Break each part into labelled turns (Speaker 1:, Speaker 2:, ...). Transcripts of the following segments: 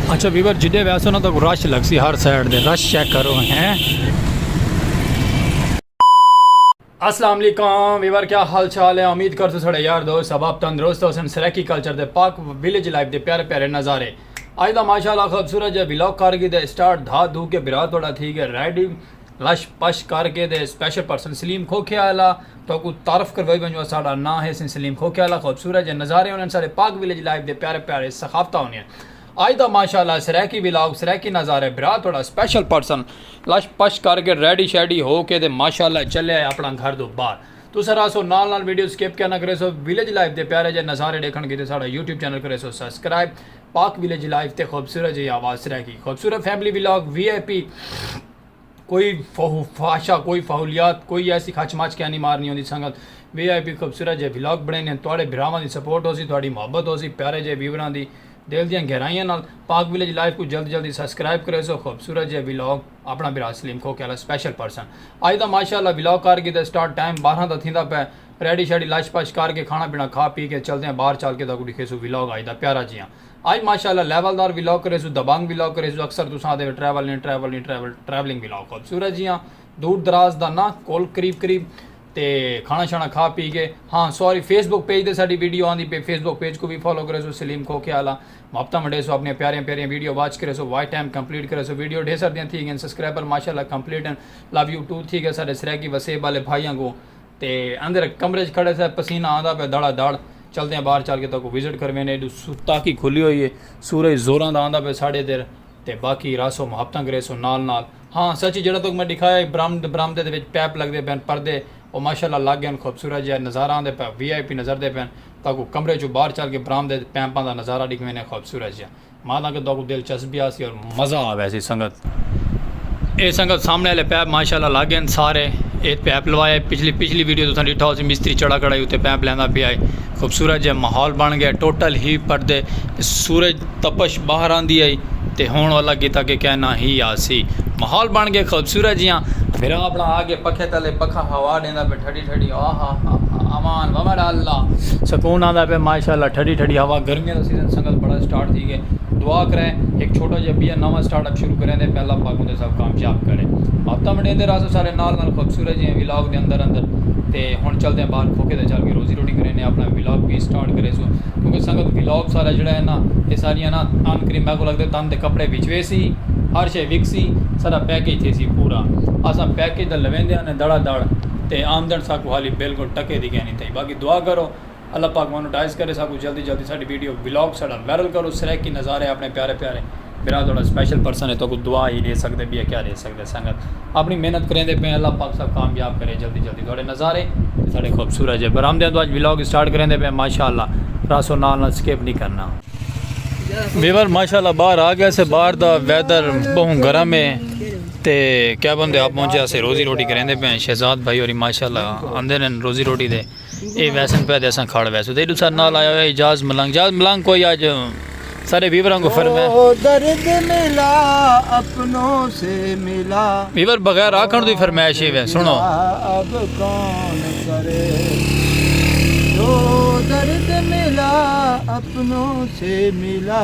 Speaker 1: اچھا ویور جدے ویسو نا تو رش لگ سی ہر سائڈ دے رش چیک کرو ہیں السلام علیکم ویور کیا حال چال ہے امید کر تو سڑے یار دوست سباب تندرست ہو سن سریکی کلچر دے پاک ویلیج لائف دے پیارے پیارے نظارے آج دا ماشاءاللہ خوبصورت جے ویلوگ کر گی دے سٹارٹ دھا دھو کے برا توڑا تھی گے ریڈی لش پش کر کے تے سپیشل پرسن سلیم کھوکھے آلا تہاکوں تعارف کروائی ونجوں اساڈا ناں ہے سیں سلیم کھوکھے آلا خوبصورت جے نظارے ہونن ساڈے پاک ولیج لائف دے پیارے پیارے ثقافتاں ہونیاں اج دا ماشاءاللہ سرائیکی ولاگ سرائیکی نظارے برا تہاڈا سپیشل پرسن لش پش کر کے ریڈی شیڈی ہو کے تے ماشاءاللہ چلے آئے اپنا گھر دو باہر تساں رہسو نال نال ویڈیو سکپ کیا نہ کریسو ولیج لائف دے پیارے جے نظارے ڈیکھن کیتے ساڈا یوٹیوب چینل کریسو سبسکرائب پاک ولیج لائف تے خوبصورت جئی آواز سرائیکی خوبصورت family vlog V I P کوئی فحاشہ کوئی فحولیات کوئی ایسی کھچ مچ کیا نہیں مارنی ہوندی سنگت وی آئی پی خوبصورت جے ولاگ بنائیں ہیں تواڈے بھراواں دی سپورٹ ہو سی تواڈی محبت ہو سی پیارے جے ویوراں دی دل دیاں گہرائیاں نال پاک ولیج لائف کو جلد جلدی سبسکرائب کرے سو خوبصورت جے ولاگ اپنا بھرا سلیم کھو کیالا سپیشل پرسن اج دا ماشاءاللہ ولاگ کر گی تے سٹارٹ ٹائم 12 دا تھیندا پے ریڈی شیڈی لش پش کر کے کھانا پینا کھا پی کے چلدے ہیں باہر چل کے دا کو ڈکھے سو ولاگ اج دا پیارا جیاں اج ماشاءاللہ لیول دار ولاگ کریسوں دبنگ ولاگ کریسوں اکثر تساں آدھے وے ٹریول نی ٹریول نی ٹریول ٹریولنگ ولاگ خوبصورت جیاں دور دراز دا نہ کول قریب قریب تے کھانا شانا کھا پی کے ہاں سوری فیس بک پیج تے ساڈی ویڈیو آندی پے فیس بک پیج کو وی فالو کریسوں سلیم کھوکھیا آلا محبتاں ونڈیسوں اپنیاں پیاریاں پیاریاں ویڈیو واچ کریسوں واچ ٹائم کمپلیٹ کریسوں ویڈیو ڈھیر سردیاں تھی گئن سبسکرائبر ماشاءاللہ کمپلیٹ ہن لو یو ٹو تھی گئے ساڈے سرائیکی وسیب آلے بھائیاں کو تے اندر کمرے اچ کھڑے سے پسینہ آندا پیا دھڑا دھڑ چلدیاں باہر چل کے تاکوں وزٹ کر وینے ایڈو تاکی کھلی ہوئی ہے سورج زوراں دا آندا پیا ساڈے ادھر تے باقی راسو محبتاں کریسوں نال نال ہاں سچ جیڑھا تاکوں میں ڈکھایا ہی برامد برامدے دے وچ پیپ لگدے پین پردے او ماشاءاللہ لگ گئین خوبصورت جیا نظارہ آندے پیا وی آئی پی نظر دے پین تاکوں کمرے چوں باہر چل کے برامدے تے پیمپاں دا نظارہ ڈکھ وینے خوبصورت جیا مالا کے دو کو دلچسبی آسی اور مزہ آوے سی سنگت اے سنگت سامنے والے پیپ ماشاءاللہ لگ گئے سارے ایت پیپ لوائے پچھلی پچھلی ویڈیو تساں ڈیٹھا ہو سی مستری چڑا کڑائی اتے پیپ لیندا پیا ہے خوبصورت جے ماحول بن گیا ٹوٹل ہی پردے سورج تپش باہر آندی آئی تے ہون والا کیتا کہ کہنا ہی آسی ماحول بن گیا خوبصورت جیاں بھرا اپنا آ کے پکھے تلے پکھا ہوا ڈیندا پہ ٹھڈی ٹھڈی ہوا ہا ہا ہا امان ووڈ اللہ سکون آندا پہ ماشاءاللہ ٹھڈی ٹھڈی ہوا گرمیاں دا سیزن سنگت بڑا سٹارٹ تھی گئے دعا کریں ایک چھوٹا جا بیا نواں سٹارٹ اپ شروع کریں دے پہ اللہ پاک اوندے سب کامیاب کرے آپ تم ڈیندے راسو سارے نال نال خوبصورت جی ولاگ دے اندر اندر تے ہن چل دے باہر کھوکے تے چل کے روزی روٹی کریں نے اپنا ولاگ بھی سٹارٹ کرے سو کیونکہ سنگت ولاگ سارا جڑا ہے نا یہ ساری ہے نا آن کریم میں کو لگ دے تن دے کپڑے بچوے سی ہر شے وکسی سارا پیکج تھے سی پورا اسا پیکج دا لوین دے دھڑا دھڑ تے آمدن ساکوں حالی بالکل ٹکے دی کینی تھئی باقی دعا کرو اللہ پاک مونوٹائز کرے ساکوں جلدی جلدی ساڈی ویڈیو ولاگ ساڈا وائرل کرو سرائیکی نظارے اپنے پیارے پیارے برا تہاڈا سپیشل پرسن ہے تہاکوں دعا ہی ڈے سکدے بیا کیا ڈے سکدے سنگت اپنی محنت کریندے پئے اللہ پاک ساکوں کامیاب کرے جلدی جلدی تہاڈے نظارے تے ساڈے خوبصورت جے برآمدیاں توں اج ولاگ سٹارٹ کریندے پئے ماشاءاللہ راسو نال نال سکپ نہیں کرنا۔ ویور ماشاءاللہ باہر آ گئے سے باہر دا ویدر بہوں گرم ہے۔ تے کیا بندے آپ پہنچے اسے روزی روٹی کریں دے پہن شہزاد بھائی اور ماشاء اللہ اندر ہیں روزی روٹی دے اے ویسن پہ دے سن کھاڑ ویسو دے دوسرا نال آیا ہوئے جاز ملنگ جاز ملنگ کوئی آج سارے بیوروں کو فرمائے او درد ملا
Speaker 2: اپنوں سے ملا بیور بغیر
Speaker 1: آکھن دوی فرمائے شیوے سنو اب کون کرے او
Speaker 2: درد ملا اپنوں سے ملا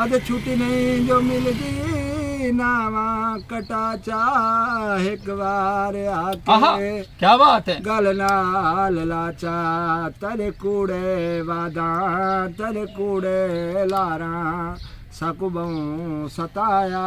Speaker 2: ادھ چھٹی نئیں جو ملدی ناواں کٹا چا ہک وار آکھے
Speaker 1: گل نال
Speaker 2: لا چا تیرے کوڑے وعداں تیرے کوڑے لاراں ساکوں بہوں ستایا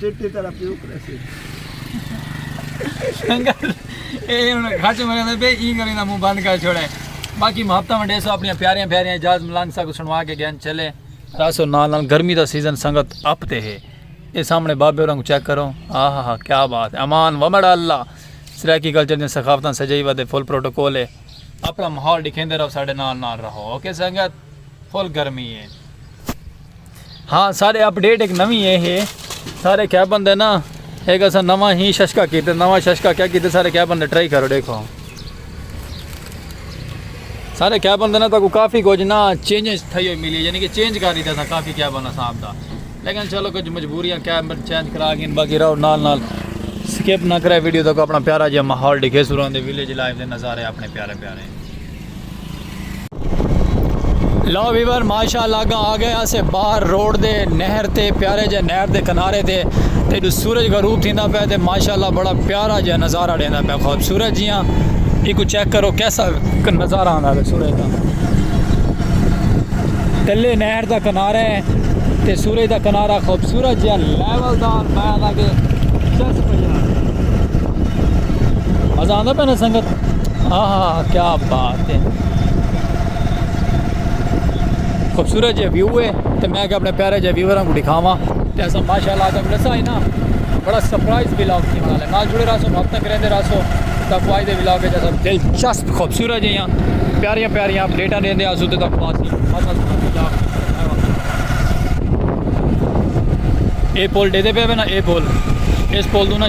Speaker 2: چٹی تیرا
Speaker 1: پیو کرے سی اے ہن گھٹ مرے دے بے ای کرے دا منہ بند کر چھوڑے باقی محبتہ ونڈے سو اپنی پیاریاں پیاریاں اجاز ملنگ سا کو سنوا کے گین چلے تاسو نال نال گرمی دا سیزن سنگت اپ تے ہے اے سامنے بابے اورنگ چیک کرو ہاں ہاں ہاں کیا بات ہے امان ومڑا اللہ سرائیکی کلچر دے ثقافتاں سجائی ودے فل پروٹوکول ہے اپنا ماحول دکھیندے رہو ساڈے نال نال رہو اوکے سنگت فل گرمی ہے ہاں سارے اپ ڈیٹ ایک نوی اے ہے سارے کیا بندے نا ایک اسا نوا ہی ششکا کیتے نوا ششکا کیا کیتے سارے کیا بندے ٹرائی کرو دیکھو سارے کیا بندے نا تو کافی کچھ نا چینج تھئی ہوئی ملی یعنی کہ چینج کر دیتا تھا کافی کیا بنا صاحب دا لیکن چلو کچھ مجبوریاں کیا بند چینج کرا گئے باقی رہو نال نال سکپ نہ کرے ویڈیو تو اپنا پیارا جی ماحول ڈکھے سوران دے ویلیج لائف دے نظارے اپنے پیارے پیارے لو ویور ماشاء اللہ گا آ گئے اسے باہر روڈ دے نہر تے پیارے جے نہر دے کنارے تے تے جو سورج غروب تھیندا پیا تے ماشاء اللہ بڑا پیارا جے نظارہ ڈیندا پیا خوبصورت جیاں ایکو چیک کرو کیسا نظارہ آندا ہے سورج دا تلے نہر دا کنارہ ہے تے سورج دا کنارہ خوبصورت جے لیول دار میں آندا کہ چس پیا مزہ آندا پہ نا سنگت آہا کیا بات ہے خوبصورت جے ویو ہے تے میں کہ اپنے پیارے جے ویوراں کو دکھاواں تے اساں ماشاءاللہ جب لسا ہے نا بڑا سرپرائز ولاگ تھی والا ہے نال جڑے رہسو وقت تک رہندے رہسو تا کو اج دے ولاگ وچ اساں دلچسپ خوبصورت جیاں پیاریاں پیاریاں اپڈیٹاں دیندے اسو تے تک بات اے پول دے دے پے نا اے پول اس پول دو نا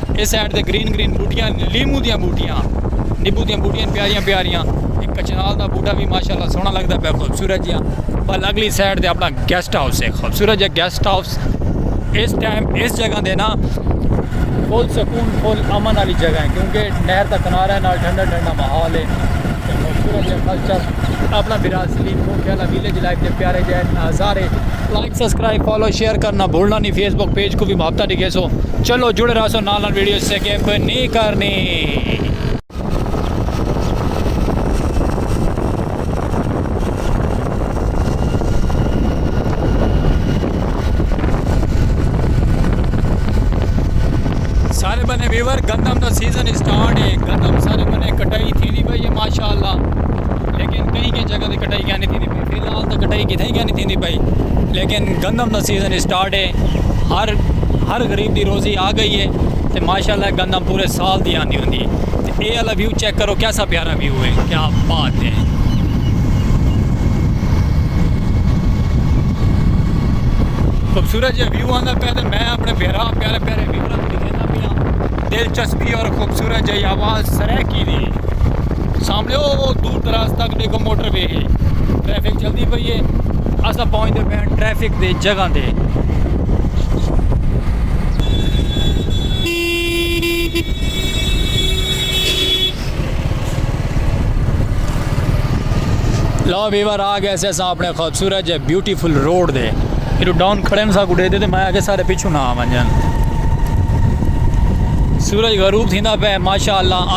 Speaker 1: اے سائیڈ تے گرین گرین بوٹیاں نے لیمو دیاں بوٹیاں نیبو دیاں بوٹیاں نے پیاریاں پیاریاں ایک کچنال دا بوٹا بھی ماشاءاللہ سونا لگدا پیا خوبصورت جیاں بل اگلی سائیڈ تے اپنا گیسٹ ہاؤس ہے خوبصورت جیاں گیسٹ ہاؤس اس ٹائم اس جگہ دے نا فل سکون فل امن والی جگہ ہے کیونکہ نہر کا کنارہ نال ٹھنڈا ٹھنڈا ماحول ہے خوبصورت جگہ کلچر اپنا برازیلین کو کیا لا ویلیج لائف دے پیارے جائے نظارے سبسکرائب فالو شیئر کرنا بھولنا نی فیس بک پیج کوں وی محبتاں ڈگھیسو چلو جڑے رہسو نال نال ویڈیو سکپ نی کرنی۔ سارے بنے ویور گندم دا سیزن اسٹارٹ ہے گندم سارے بنے کٹائی تھی دی پئی ہے ماشاءاللہ لیکن کئی کئی جگہ تے کٹائی کہنی تھی دی پئی فی الحال تاں کٹائی کتھائیں کائنی تھیندی پئی لیکن گندم دا سیزن اسٹارٹ ہے ہر ہر غریب دی روزی آ گئی ہے تے ماشاءاللہ گندم پورے سال دی آندی ہوندی ہے تے اے والا ویو چیک کرو کیسا پیارا ویو ہے کیا بات ہے خوبصورت جے ویو آندا پیا تے میں اپنے بھیرا پیارے پیارے ویورز دکھیندا پیا دلچسپی اور خوبصورت جے آواز سرے کی دی سامنے او دور دراز تک دیکھو موٹر وے ہے ٹریفک چلتی پی ہے اصا پہنچتے پہ ٹریفک دے جگہ دے لا ویور آ گئے سے سا اپنے خوبصورت جے بیوٹیفل روڈ دے ایڈو ڈاؤن کھڑے میں سا کو دے دے میں آگے سارے پیچھو نہ آ جان سورج غروب تھیندا پہ ماشاءاللہ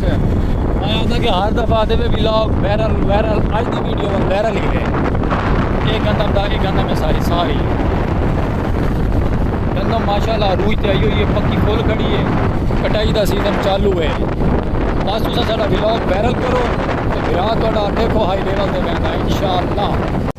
Speaker 1: میں آکھدا کہ ہر دفعہ آدھے وے ولاگ وائرل وائرل اج دی ویڈیو ول وائرل ہی رہے اے گندم دا اے گندم اے ساری ساری گندم ماشاءاللہ عروج تے آئی ہوئی ہے پکی پھول کھڑی ہے کٹائی دا سیزن چالو ہے بس تساں ساڈا ولاگ وائرل کرو تے بھرا تہاڈا دیکھو ہائی لیول تے ویندا انشاءاللہ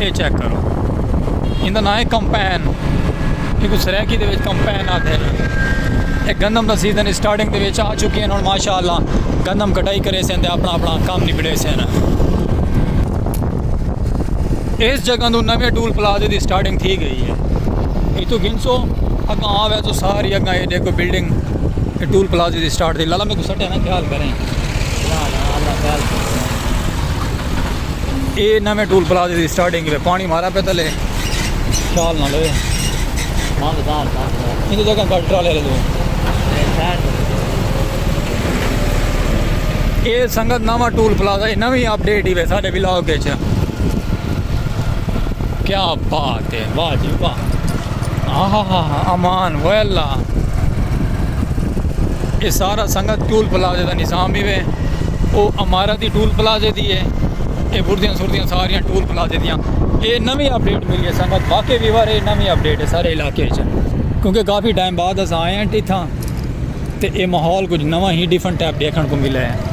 Speaker 1: اے چیک کرو ایندا نام ہے کمپین ایکو سرائیکی دے وچ کمپین آتے ہیں اے گندم دا سیزن اسٹارٹنگ دے وچ آ چکی ہیں ہن ماشاءاللہ گندم کٹائی کرے سن تے اپنا اپنا کام نبڑے سن اس جگہ تو نویں ٹول پلازے دی اسٹارٹنگ تھی گئی ہے اے تو گنسو اگاں آوے تو ساری اگاں اے دیکھو بلڈنگ اے ٹول پلازے دی اسٹارٹ دی لالا میں کو سٹے نا خیال کریں اے نویں ٹول پلازے دی سٹارٹنگ ہے پانی مارا پہ تلے خیال نہ لے ہاں بتا ان دی جگہ گاڑی ٹرالے لے لو اے سنگت نواں ٹول پلازا ہے نویں اپڈیٹ ہی ہے سارے ولاگ وچ کیا بات ہے واہ جی واہ ہاں ہاں ہاں امان وے اللہ یہ سارا سنگت ٹول پلازے دا نظام ہی وے او امارت دی ٹول پلازے دی ہے یہ بردیاں سردیاں ساریاں ٹول پلازے دیاں یہ نوی اپڈیٹ ملی ہے سنگت واقعی بھی وارے یہ نوی اپڈیٹ ہے سارے علاقے چ کیونکہ کافی ٹائم بعد اساں آئے ہیں ٹھیک تھا تے یہ ماحول کچھ نوہ ہی ڈیفن ٹیپ دیکھن کو ملے ہیں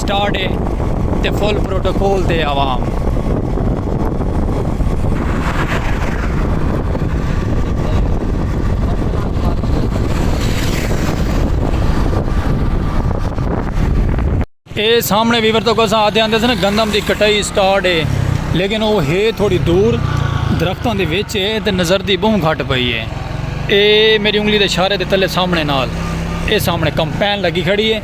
Speaker 1: سٹارٹ اے تے فل پروٹوکول تے عوام۔ اے سامنے ویور تو کساں آتے آندے سن گندم دی کٹائی سٹارٹ اے لیکن او ہے تھوڑی دور درختوں دے وچ اے تے نظر دی بہوں گھٹ پئی اے اے میری انگلی دے اشارے دے تلے سامنے نال اے سامنے کمپین لگی کھڑی اے۔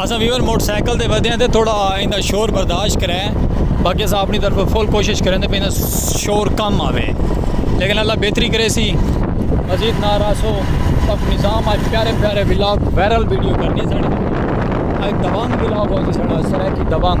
Speaker 1: اساں ویور موٹر سائیکل تے ودے ہیں تے تھوڑا ایندا شور برداشت کرے باقی اساں اپنی طرف فل کوشش کریں تے پیندا شور کم آوے لیکن اللہ بہتری کرے سی مزید ناراسو پک نظام آج پیارے پیارے ولاگ وائرل ویڈیو کرنی ساڑی آج دوانگ ولاگ ہو جی ساڑا سرائے کی دوانگ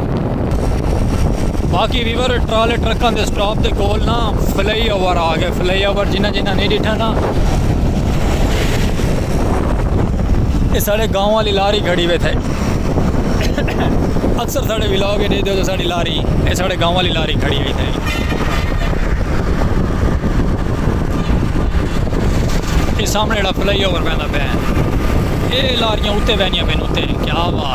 Speaker 1: باقی ویور ٹرالے ٹرکاں دے سٹاپ دے کول نا فلائی اوور آ گئے فلائی اوور جنہ جنہ نہیں ڈٹھا نا یہ سارے گاؤں والی لاری کھڑی ہوئے تھے اکثر سارے ولاگ کے دے دے تو ساری لاری یہ سارے گاؤں والی لاری کھڑی ہوئی تھے یہ سامنے جڑا فلائی اوور پہنا پہ یہ لاریاں اتے بہنیاں پہ نوتے کیا بات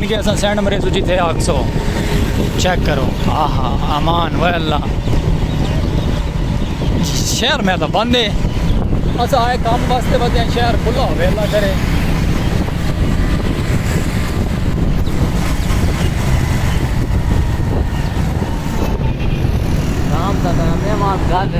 Speaker 1: کہ اساں سینڈ مرے سو جتھے آکھسو چیک کرو آہا امان وے اللہ شہر میں اللہ بندے اساں آئے کام واسطے بس ہیں شہر کھلا ہوئے اللہ کرے کام تا کام ہے ماں گھر